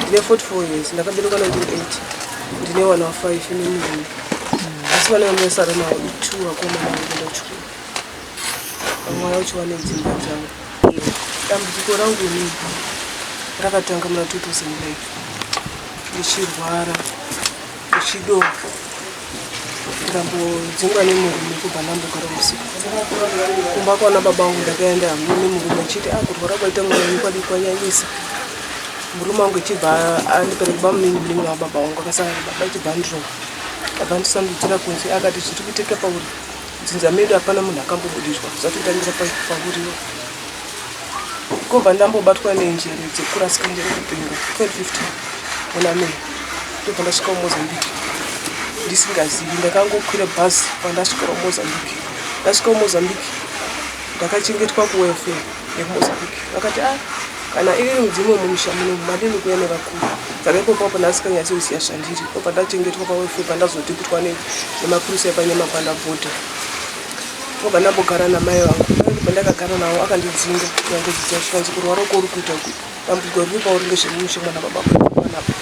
ndine 44 years ndakaberekwa 1980 ndine vana vafive nemurume asi vana vanosara navo two vakomana vanoenda kuchikoro vamwe vaya vacho vane dzimba dzavo dambudziko rangu inini rakatanga muna 2009 ndichirwara Chido ndambodzingwa nemurume kubva ndambogara musiku kumba kwana baba wangu ndakaenda hamwe nemurume achiti akurwara ah, kwaita mwana wenyu kwadi kwanyanyisa murume wangu achibva andipereka kuba muningi muningi wavo baba wangu akasangana baba achibva andirova abva andisandudzira kunze akati zviri kuiteka pauri dzinza medu hapana munhu akambobudirwa zvatotangira pauriwa Ndakabva ndambobatwa nenjere dzekurasika njere kupenga 2015 muna May ndobva ndasvika kuMozambique ndisingazivi. Ndakangokwira bhazi pandasvika kuMozambique. Ndasvika kuMozambique ndakachengetwa kuwelfare yekuMozambique. Vakati ah kana iri mudzimu wemumusha muno madini kuya nevakuru saka ipopo apa ndasikanyaisi kuziva zvandiri ndobva ndachengetwa pawelfare pandazoti kutwa nemapurisa epanyama pandabhodha Wabva ndambogara namai vangu vangu pandakagara navo akandidzinga yangodzidza zvikanzi kurwara uko uri kuita ku dambudziko riri pauri ngezvemumushe mwana baba kwanapo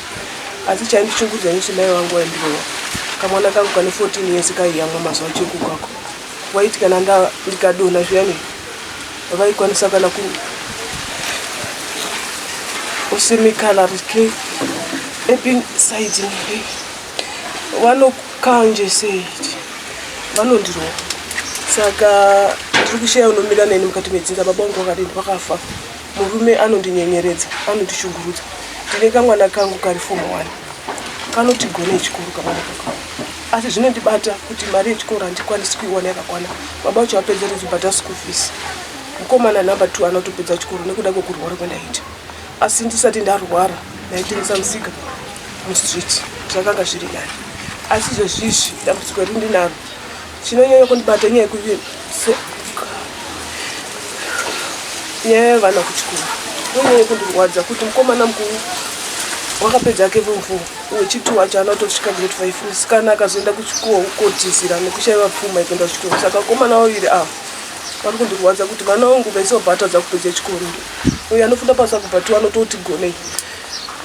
asi chaindichungudza nisi mai vangu waindirova kamwana kangu kane 14 years kaiyamwa mazuva cheku kako waiti kana ndikadona zviyani vaikwanisa kana ku usimikala rike epin saidini Vanokanje sei ichi vanondirova saka ndiri kushaya unomira neni mukati medzinza baba vangu vakadini vakafa murume anondinyenyeredza anondishungurudza ndine kamwana kangu kari fomu one kanoti gone chikuru kamwana kako asi zvinondibata kuti mari yechikoro handikwanisi kuiwana yakakwana baba vacho vapedzeredzo bhata school fees mukomana number two anotopedza chikoro nekuda kwekurwara kwendaita asi ndisati ndarwara ndaitengesa musika mustreet zvakanga zviri nani asi zvezvizvi dambudziko riri ndinaro chinonyanya kundibata nyaya yekuti nyaya yevana kuchikoro inonyanya kundirwadza kuti mukomana mukuru wakapedza ake vemvumo wechiti wacho ana kutosvika grade five musikana akazoenda kuchikoro kotizira nekushaiva pfuma yekuenda kuchikoro saka mukomana waviri ava vari kundirwadza kuti vana vangu vese vabatadza kupedza chikoro uyo anofunda pasaku but anototi gonei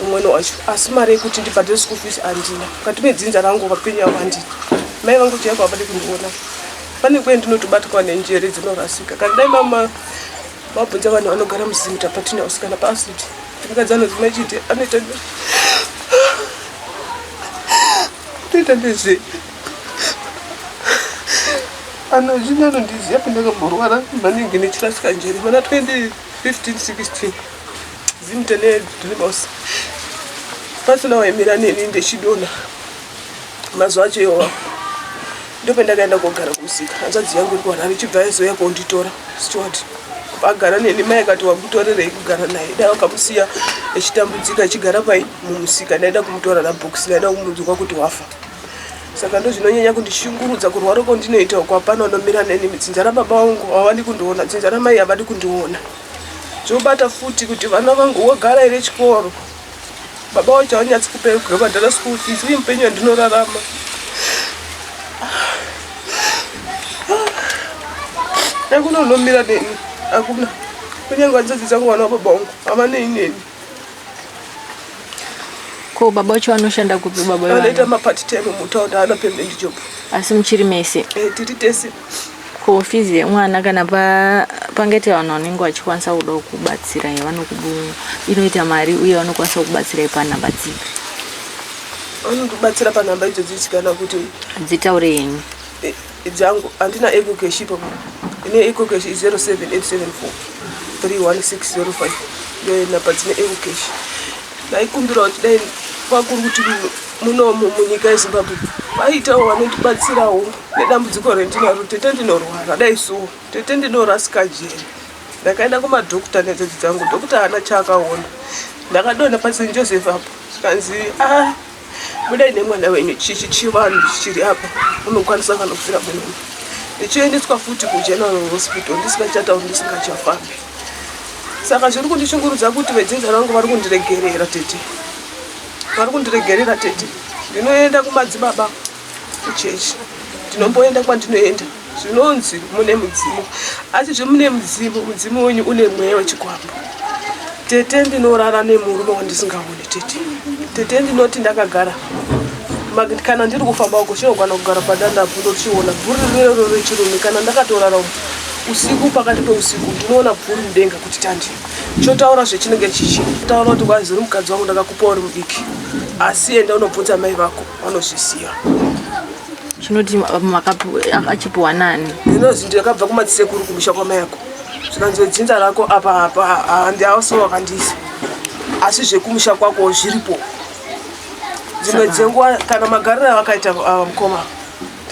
umwene wacho asi mari yekuti ndibhadhire school fees andina mukati medzinza rangu vapenyu avo andina mai vangu chiyako havadi kundiona pane kuye ndinotobatwa nenjere dzinorasika kana dai mama mabvunza vanhu vanogara muzimuta patinouse kana paacid ndikadzi anozima chiti anoita anoita ndezvei anozvini anondiziva kuti ndakamborwara maningi nechirasika njeri mana 2015 16 zimtene dribos pasina waimira neni ndechidona mazuva acho iwawa ndopendakaenda kogara kumusika hanzvadzi yangu iri kuharare ichibva yaizoya konditora steward agara neni mai akati wakutorerei kugara naye dai wakamusiya echitambudzika echigara pai mumusika ndaida kumutora nabhokisi ndaida kumudzwa kuti wafa saka ndozvinonyanya kundishungurudza kurwara uko ndinoita uko hapana unomira neni dzinza rababa vangu havadi kundiona dzinza ramai havadi kundiona zvobata futi kuti vana vangu wogara here chikoro baba wacho havanyatsi kupekubhadhara school fees uye mupenyu yandinorarama akuna unomira neni akuna kunyange vanzadzi dzangu vana vababa vangu havanei neni Ko baba wacho anoshanda kupi baba wevana? Anoita mapart time mutaunda ana permanent job. Asi muchiri mese? Eh, tiri tese. Ko fizi yemwana kana pa pangete vanhu vanenge vachikwanisa kuda kubatsira yavanokubu inoita mari uye vanokwanisa kubatsira panhamba dzipi? Vanokubatsira panhamba idzo dzichikana kuti dzitaure yenyu. Eh. Dzangu andina ego cash ipo ine ego cash 0787431605 ndiyo nhamba dzine ego cash ndaikumbira kuti dai vakuru kuti munomu munyika yezimbabwe vaitawo vanotibatsirawo nedambudziko rendinaro tete ndinorwara dai suwo tete ndinorasika jeri ndakaenda kumadhokta nedzodzi dzangu dhokta haana chaakaona ndakadona pasin joseph apo zvikanzi a ah, budai nemwana wenyu chichi chivanhu chiri apa unokwanisa kana kufira munomu ndichiendeswa futi kugeneral hospital ndisingachatauri ndisingachafambi saka zviri kundishungurudza kuti vedzinza rangu vari kundiregerera tete vari kundiregerera tete ndinoenda kumadzibaba kuchechi ndinomboenda kwandinoenda zvinonzi mune mudzimu asi zvemune mudzimu mudzimu wenyu une mweya wechikwambo tete ndinorara nemurume wandisingaoni tete tete ndinoti ndakagara kana ndiri kufamba uko chinogwana kugara padandapo ndochiona bhuri rirero rechirume kana ndakatorara uko usiku pakati peusiku ndinoona bhuri mudenga kuti tandi chotaura zvechinenge chichi taura kuti kwazi uri mukadzi wangu ndakakupa uri mudiki asi enda unobvunza mai vako vanozviziva chinoti achipiwa nani ndinozi ndakabva kumadzisekuru kumusha kwamayako zvikanzi dzinza rako apa apa handi auso wakandisa asi zvekumusha kwako zviripo dzimwe dzenguva kana magariro avakaita ah, mukoma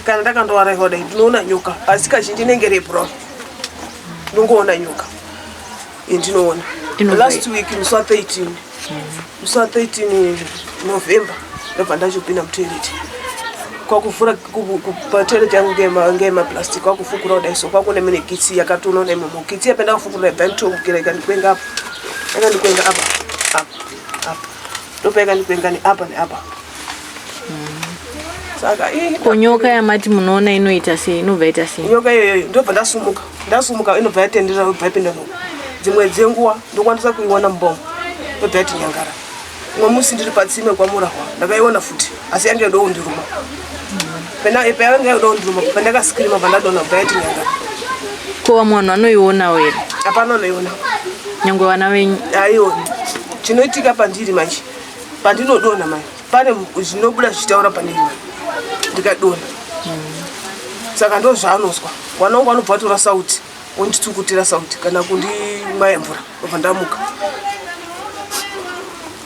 kana ndakandovaraiva dai ndinoona nyoka asi kazhinji inenge rebrown ndongoona nyoka yendinoona last week musi wa 13 musi wa 13 november ndobva ndachopinda mutoilet kwakuvhura patoilet yangu ngemaplastic kwakufukura kudai so kwakune mine kitsi yakatoona kudai momo kitsi yapenda kufukura ibva nditokukira ikandikwenga apa yakandikwenga apa apa apa ndopa ikandikwenga neapa neapa saka ii- ko nyoka yamati munoona inoita sei inobva ita sei nyoka iyoyo ndobva ndasumuka ndasumuka inobva yatendera yobva yapinda muno dzimwe dzenguva ndokwanisa kuiona mubongo yobva yati nyangara umwe musi ndiri patsime kwamurahwa ndakaiona futi asi yange yoda kundiruma pena payanga yoda kundiruma pandakasikirima pandadona kubva yati nyangara ko vamwe vanhu vanoionawo here hapana anoiona nyangwe vana venyu aioni chinoitika pandiri manje pandinodonha mai pane zvinobuda zvichitaura pane iwe ndikadonha saka ndo zvaanozwa mwana wangu anobva atora sauti wonditsukutira sauti kana kundimwaya mvura obva ndamuka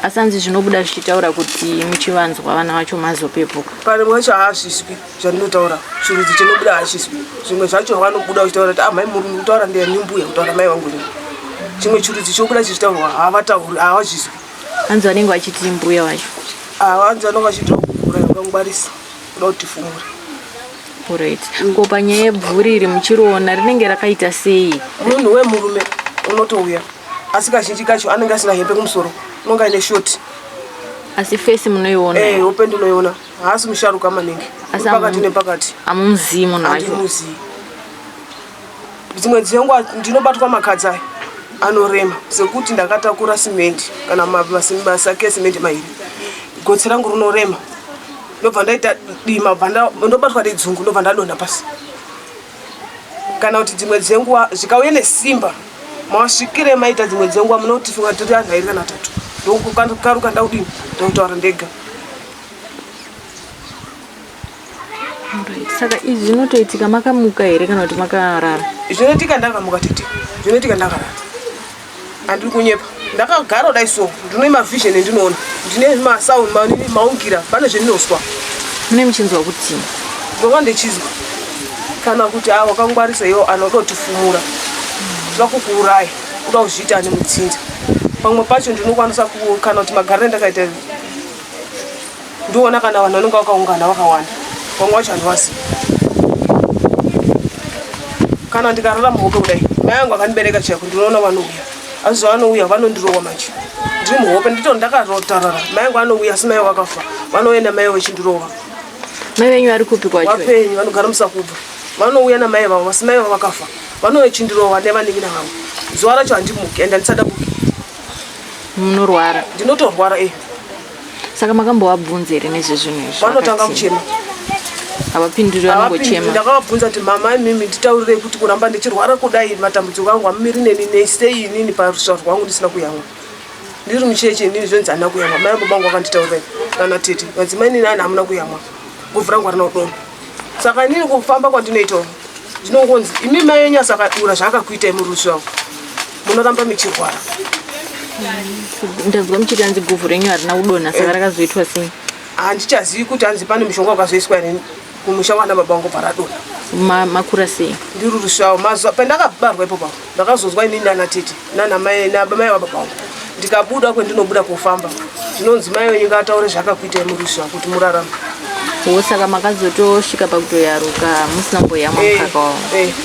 asi anzi zvinobuda zvichitaura kuti muchivanzwa vana vacho mazopepuka pane mwe wacho haasviswi zvandinotaura chirudzi chinobuda haasviswi zvimwe zvacho vanobuda uchitaura kuti amai ah, muri kutaura ndeyani mbuya kutaura mai vangu chimwe chirudzi chobuda chichitaurwa havatauri havazviswi hanzi vanenge vachiti mbuya vacho ah, hanzi vanenge vachiti vakugura vakangwarisa kuda kuti fumura orit mm. ko panyaya yebvuri iri muchiriona rinenge rakaita sei munhu wemurume unotouya asi kazhinji kacho anenge asina hembe kumusoro unonga ine shoti asi fesi munoiona hey, eh, hope ndinoiona haasi musharuka maningi pakati nepakati amumzii munhu wacho Dzimwe dzenguva ndinobatwa makadzi aya anorema sekuti ndakatakura simendi kana masake esimendi mairi gotsi rangu rinorema ndobva ndaita dima ndobatwa nedzungu ndobva ndadonha pasi kana kuti dzimwe dzenguva zvikauye nesimba masvikire maita dzimwe dzenguva munoti funga tiri anhu airi kana tatu ndokukaruka ndaudini ndakutaura ndega saka izvi zvinotoitika makamuka here kana kuti makarara zvinoitika ndakamuka tete zvinoitika ndakarara handiri kunyepa ndakagara kudai so ndine mavision endinoona ndine masound maungira pane zvendinozwa mune muchinzwa kuti ndova ndichizwa kana kuti a wakangwarisa iwo anoda kutifumura kuda kukuuraya kuda kuzviita ane mutsinza pamwe pacho ndinokwanisa kana kuti magariro ndakaita ndiona kana vanhu vanenge vakaungana vakawanda vamwe vacho handivazivi kana ndikarara muhope kudai mai angu akandibereka chaiko ndinoona vanouya asi zvavanouya vanondirowa manje ndiri muhope ndito ndakarotarara mai angu anouya asi mai vakafa vanoenda mai vachindirova mai venyu vari kupi kwachovapenyu vanogara musakubva vanouya namai vavo asi mai vavakafa vanochindirova nevanin'ina vavo zuva racho handimuki and handisada muki munorwara ndinotorwara e eh. saka makambovabvunza here nezvezvinhu izvi vanotanga kuchema havapinduri vanongochema ndakavabvunza kuti mama imimi nditaurirei kuti kuramba ndichirwara kudai matambudziko angu amumiri neni nesei inini parusva rwangu ndisina kuyamwa ndiri mucheche inini zvonzi handina kuyamwa mai baba angu vakanditaurirei kana tete vanzi mai inini ani hamuna kuyamwa guvhu rangu harina kudoma saka inini kufamba kwandinoitawo ndinongonzi imi mai enyu asakadura zvaakakuitai murusva munoramba muchirwara ndanzwa muchiti anzi guvhu renyu harina kudonha saka eh. rakazoitwa sei handichazivi kuti anzi pane mushonga wakazoiswa rini kumusha wana baba wangu paradona makura sei ndiri rusvavo mazuva pandakabarwa ipopa ndakazonzwa ini nana tete nanamai nabamai wababa wangu ndikabuda kwendinobuda kofamba zvinonzi mai wenyu ngataure zvakakuitai murusva kuti murarama wo saka makazotosvika pakutoyaruka musina mboyamwa mukaka wavo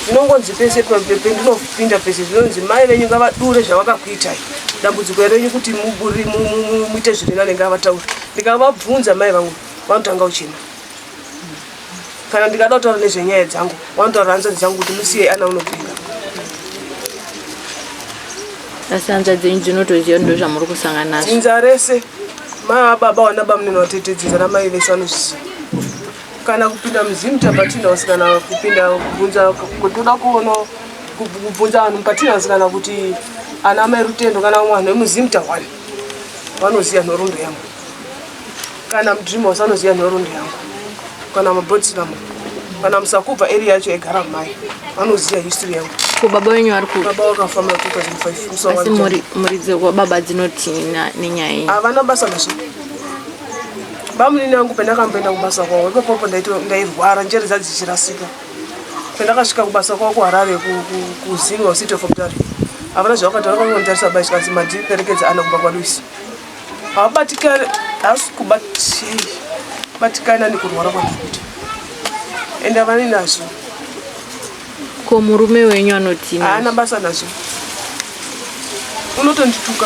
ndinongonzi pese pendinofa Pinda pese zvinonzi mai venyu ngavadure zvavakakuitai dambudziko renyu kuti muite zviri nane ngavataure ndikavabvunza mai vangu vanotanga uchina kana ndikada kutaura nezvenyaya dzangu vanotaura hanzvadzi dzangu kuti musiye ana unopinda asi hanzvadzi dzenyu dzinotoziva ndo zvamuri kusangana nazvo dzinza rese mai ababa wana bamnene vatetedzidza namai vese vanozviziva kana kupinda muzimu tapatina house kana kupinda kubvunza kutoda kuona kubvunza vanhu mupatina house kana kuti ana mai rutendo kana vamwe vanhu vemuzimu tahwani vanoziva nhorondo yangu kana mudream house vanoziva nhorondo yangu kana mabodsilamu kana musakubva eri yacho yaigara mai vanoziva history yangu ko baba wenyu vari ku baba wakafa ma 2005 asi muridzo wababa dzinotii nenyaya iyi havana basa nazvo bamunini angu pendakamboenda kubasa kwavo ipapopo ndairwara njere dzadzichirasika pendakasvika kubasa kwavo kuharare kuzini wasite fomtari havana zvavakataura vakangonditarisa bai chikanzi mandiperekedza ana kumba kwaluisi havabatikani hasi kubatikana nekurwara kwandikuita ende havani nazvo ko murume wenyu anotii haana basa nazvo unotondituka